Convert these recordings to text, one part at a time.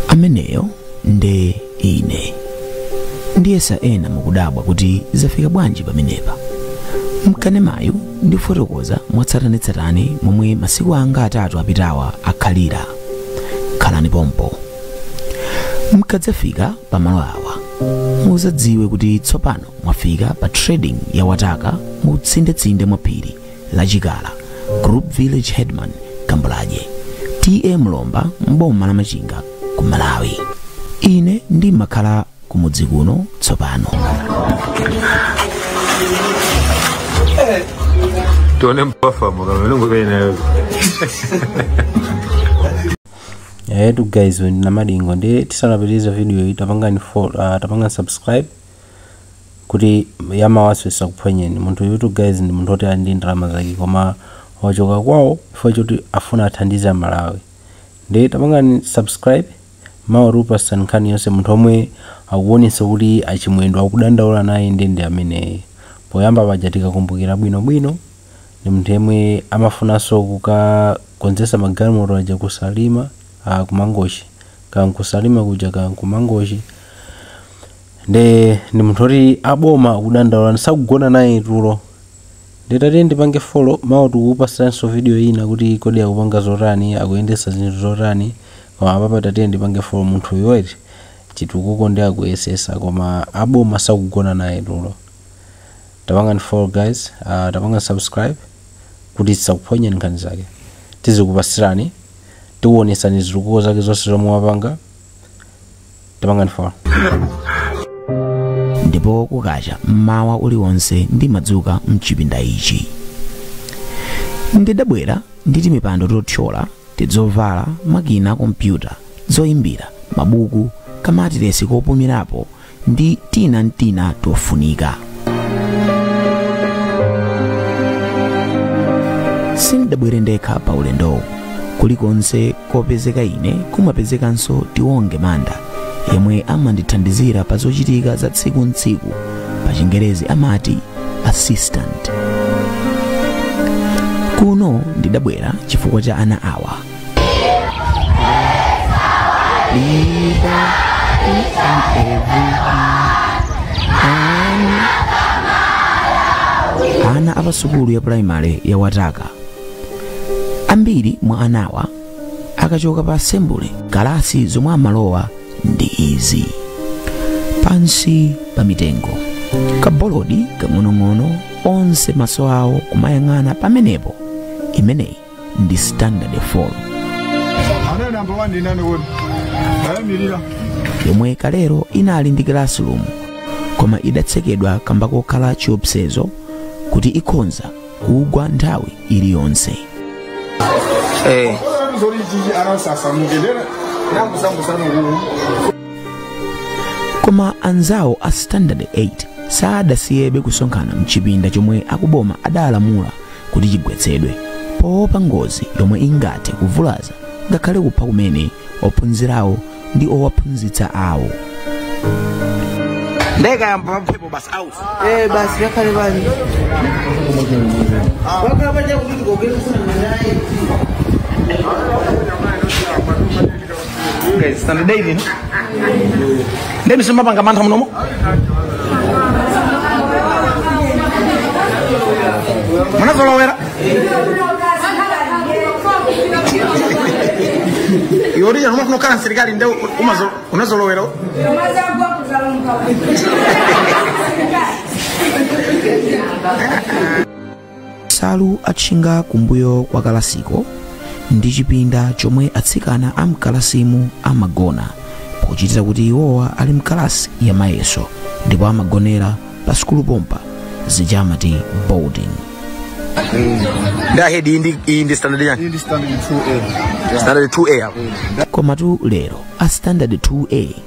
ameneyo nde ine ndikuyesa ena mukudabwa kuti zafika bwanji pamenepa mkanemayu ndifotokoza mwatsatanetsatane momwe masiku anga atatu apitawa akhalira khalani pompo mkadzafika pamalo awa muzadziwe kuti tsopano mwafika pa trading ya wataka mu tsindetsinde mwa phiri la Chikala, Group Village Headman Kambulaje, TA Mlomba, m'boma la Machinga ku Malawi. Ine ndimakhala kumudzi kuno tsopano. tione mpafa mukamelungu kainayo yayetu guys Namadingo nde tisanapitiriza video iyi tapangani fo- ah, tapangani subscribe kuti ya mawa isakuphonyeni munthuyutu guys ndi munthu oti ali ndi ndalama zake koma wachoka kwawo chifukwa choti afuna athandize amalawi nde tapangani subscribe mawa tikupasani nkhani yonse munthu omwe akuonesa kuti a Chimwendo akudandaula naye ndi ndi ameneyo poyamba paja tikakumbukira bwino bwino ndi munthu yemwe amafunanso kukakonzesa magalimoto aja ku Salima ah, ku Mangochi kankusalima kuja kankumangochi nde ndi munthu oti aboma akudandaula nde sakugona naye tulo nde tatiyeni tipange follow mawa tikukupasiranso video ina kuti kodi akupanga zotani akuyendesa zinthu zotani koma apapa tatiyeni tipange follow munthuyu eti chitukuko nde akuyesesa koma aboma sakugona naye tulo tapangani follow guys uh, tapangani subscribe kuti tisakuphonyeni nkhani zake tizikupasirani tikuonesani zitukuko zake zonse zomwe wapanga tapangani follow ndipo kukacha mmawa uliwonse ndimadzuka mchipinda ichi ndidabwera ndi timipando tothyola tidzovala makina kompyuta zoyimbira mabuku kamatiresi kopumirapo ndi tina mtina tofunika sindidabwere ndekha pa ulendowu kulikonse kopezeka ine kumapezekanso Tiwonge Manda yemwe amandithandizira pa zochitika za tsiku ntsiku pa chingerezi amati assistant kuno ndidabwera chifukwa cha ana awa ana a pasukulu ya primary ya wataka ambiri mwa anawa akachoka pa assembly kalasi zomwe amalowa ndi izi pansi pa mitengo kabolodi kang'onong'ono onse maso awo kumayang'ana pamenepo imeneyi ndi standard 4 anali namba 1 ndi nani kodi ayimirira yomwe kalero inali ndi classroom koma idatsekedwa kamba kokhala chiopsezo kuti ikhonza kugwa nthawi iliyonse Eh. zoli chichi anasamuke ndena nakusamusana kuku koma anzawo a standard 8 sadasiyebe kusonkhana mchipinda chomwe akuboma adalamula kuti chigwetsedwe poopa ngozi yomwe ingathe kuvulaza ngakhale kupha kumene ophunzirawo ndi owaphunzitsa awo nde ikayamba mphepo basi out Eh, basi yakhale bani wakhala paja kuti tikogera kusana naye guys tani daily no daily sema panga mantha munomo munazolowera yori yanuma kuno kana serikali nde umazo- unazolowera Thank you. nsalu atchinga kumbuyo kwa kalasiko ndi chipinda chomwe atsikana amkalasimu amagona pochitira kuti iwowa ali mkalasi ya mayeso ndipo amagonera pa sukulu pompa zija amati boarding nde ahedi iyi ndi- iyi ndi standard yani Hii ni standard 2A. standard 2a apo komatu lero a standard 2a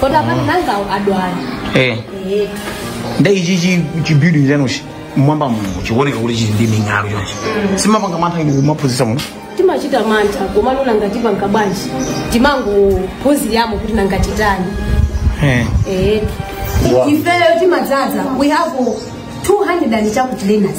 kodi apano nanga awo adwala eh Eh, nde ichi chi chi building chanuchi mmwamba muno chikuoneka kuti chili ndi ming'alu chonchi simumapanga mantha inu kumaphunzitsa muno timachita mantha komano nanga tipanga bwanji timangophunziramo kuti nanga titani eh Eh, ifeyo timadzaza we have 200 and chakuti learners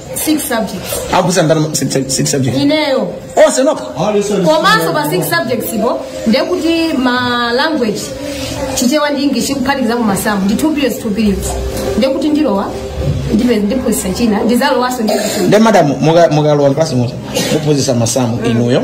six subjects akusa ndalama six- six subject ineyo onse nokha komanso pa six subjects po ndekuti ma language chichewa ndi english kuphatikizako masamu ndi two periods two periods ndekuti ndilowa ndipe ndiphunzitsa china ndizalowanso ndi nde madam muka- mukalowa mklasi muti muphunzitsa masamu inuyo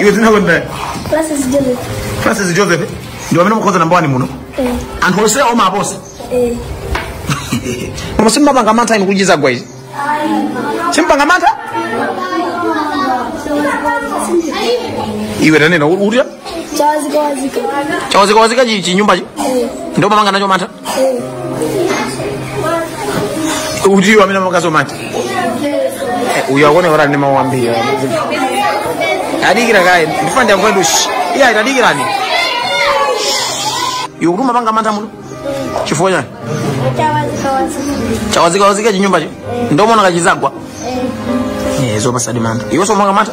iwe dzina lako nda Francis Joseph. francis joseph ndiwe amene umakhoza namba wani muno Eh, anthu onse umawaposa eh. koma sumapanga mantha inu kuti chizagwa ichi sumapanga mantha iwe tanena uja Chawazikawazika. chawazikawazika chinyumbachi Eh, ndiye umapanga nacho mantha ndiwe amene umachita mantha uyo akuoneka kuti ali ndi mawu ambiri adikira kaye ndifuna ndiyankhuletu eya tadikirani iwe kuti umapanga mantha muno chifukwa chani chawazikawazika chinyumbacho ndiye umaona ngati chizagwa Eh, zopatsadi mantha iwe sumapanga mantha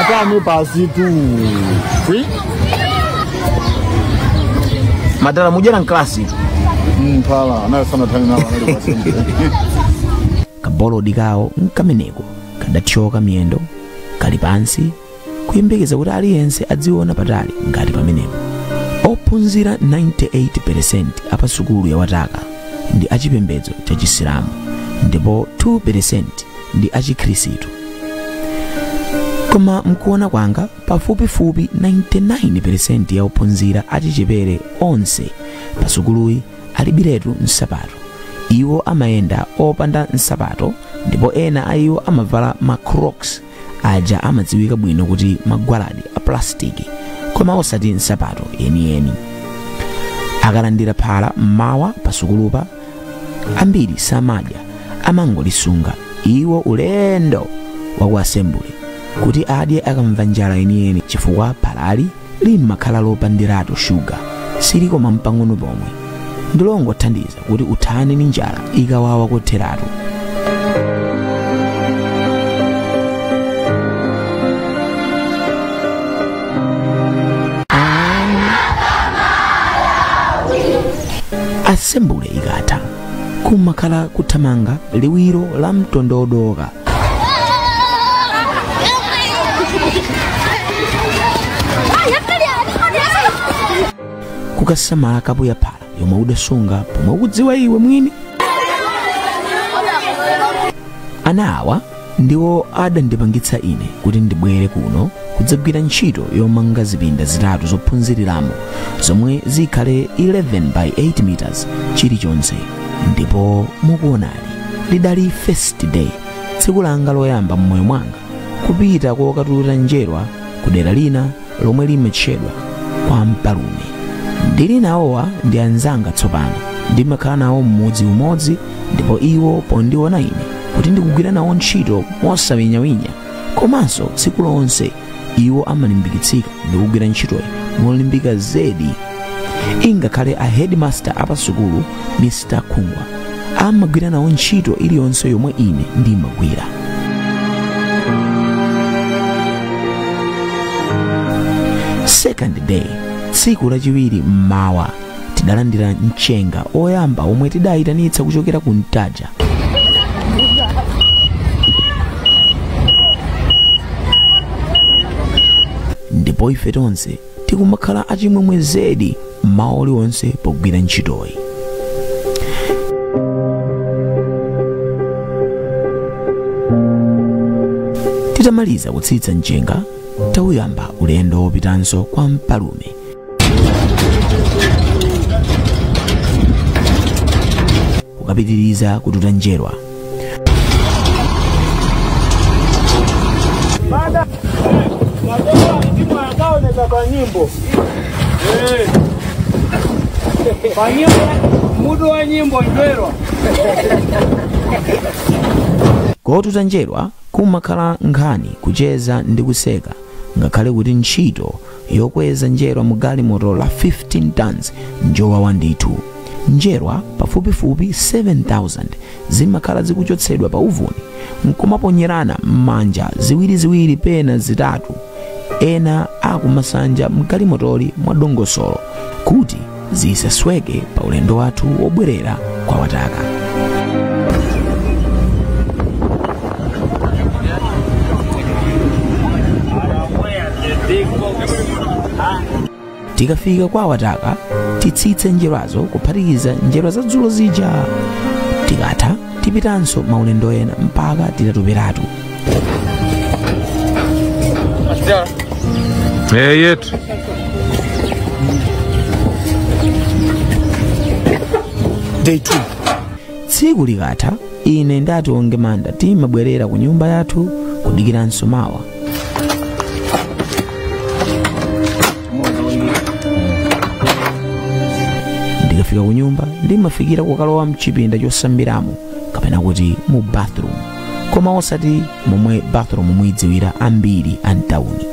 atanu pasi tu Free? madala mujana mklasi phala anayo sana tani nawo anali kwasembe kabolodi kawo nkameneko kadathyoka miyendo kali pansi kuyembekeza kuti aliyense adziona patali ngati pamenepo ophunzira 98% a pa sukulu ya wataka ndi achipembedzo cha chisilamu ndipo 2% ndi achikhristu koma mkuona kwanga pafupifupi 99% ya ophunzira achichepere onse pa sukuluyi alibiretu nsapato iwo amayenda opanda nsapato ndipo ena a iwo amavala ma crocs aja amadziwika bwino kuti magwaladi a plasitiki koma osati nsapato yeniyeni akalandira phala mmawa pa sukulupa ambiri samadya amangolisunga iwo ulendo waku asembule kuti adye akamva njala yeniyeni chifukwa phalali limakhala lopandiratu shuga silikoma mpang'ono pomwe ndilongothandiza kuti uthane ndi njala ikawawa kotheratu asembule ikatha kumakhala kuthamanga liwiro la mtondodoka kukasamala kapu ya phala yomwe udasunga pomwe ukudziwa iwe mwini ana awa ndiwo adandipangitsa ine kuti ndibwere kuno kudzagwira ntchito yomanga zipinda zitatu zophunziriramo zomwe zikhale 11 by 8 meters chilichonse ndipo mukuonali lidali first day tsiku langa loyamba mmoyo mwanga kupita kokatulira njerwa ku dera lina lomwe limatchedwa kwa mpalume ndili nawowa ndi anzanga tsopano ndimakhala nawo m'mudzi umodzi ndipo iwo pondiona ine kuti ndikugwira nawo ntchito mosawinyawinya komanso tsiku lonse iwo amalimbikitsika ndikugwira ntchitoyi molimbika zedi ingakhale a headmaster apasukulu mr khungwa amagwira nawo ntchito iliyonse yomwe ine ndimagwira second day tsiku lachiwiri mmawa tidalandira mchenga oyamba omwe tidayitanitsa kuchokera ku ntaja ndipo ife tonse tikumakhala a chimwemwe zedi mmawa uliwonse pogwira ntchitoyi titamaliza kutsitsa mchenga tauyamba ulendo wopitanso kwa mpalume kukapitiriza kututa njerwa Baada madoa mtimu akaoneza kwa nyimbo kwa nyimbo mudu wa nyimbo ndwerwa kotuta njerwa kumakhala nkhani kucheza ndi kuseka ngakhale kuti ntchito yokweza njerwa mu galimoto la 15 tons njowawa ndithu njerwa pafupifupi 7000 zimakhala zikuchotsedwa pa uvuni nkumaponyerana m'manja ziwiriziwiri pena zitatu ena akumasanja mgalimotoli mwadongosolo kuti zisasweke pa ulendo wathu wobwerera kwa wataka tikafika kwa wataka titsitse njerwazo kuphatikiza njerwa za dzulo zija tikatha tipitanso maulendo ena mpaka titatuperatu Eh, yetu. day 2 tsiku likatha ine nda tiwonge manda timabwerera ku nyumba yathu kudikiranso mawa ndikafika ku nyumba ndimafikira kukalowa mchipinda chosambiramo kapena kuti mu bathroom koma osati momwe bathroom muyidziwira ambiri a mtawuni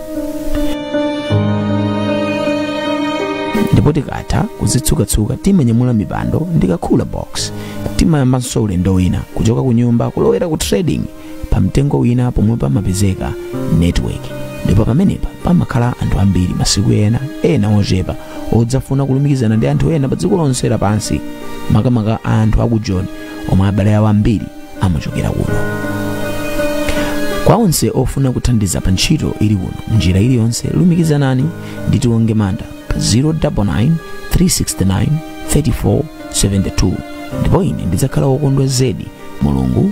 ndipo tikatha kuzitsukatsuka timanyamula mipando ndi ka cooler box timayambanso ulendo wina kuchoka ku nyumba kulowera ku trading pa mtengo wina pomwe pamapezeka network ndipo pamenepa pamakhala anthu ambiri masiku ena ena ochepa odzafuna kulumikizana ndi anthu ena pa dziko lonse lapansi makamaka anthu aku joni omwe abale awo ambiri amachokera kuno kwa onse ofuna kuthandiza pa ntchito ili kuno mnjira iliyonse lumikizanani ndi tiwonge manda pa 099 369 3472 ndipo ine ndidzakhala wokondwa zedi mulungu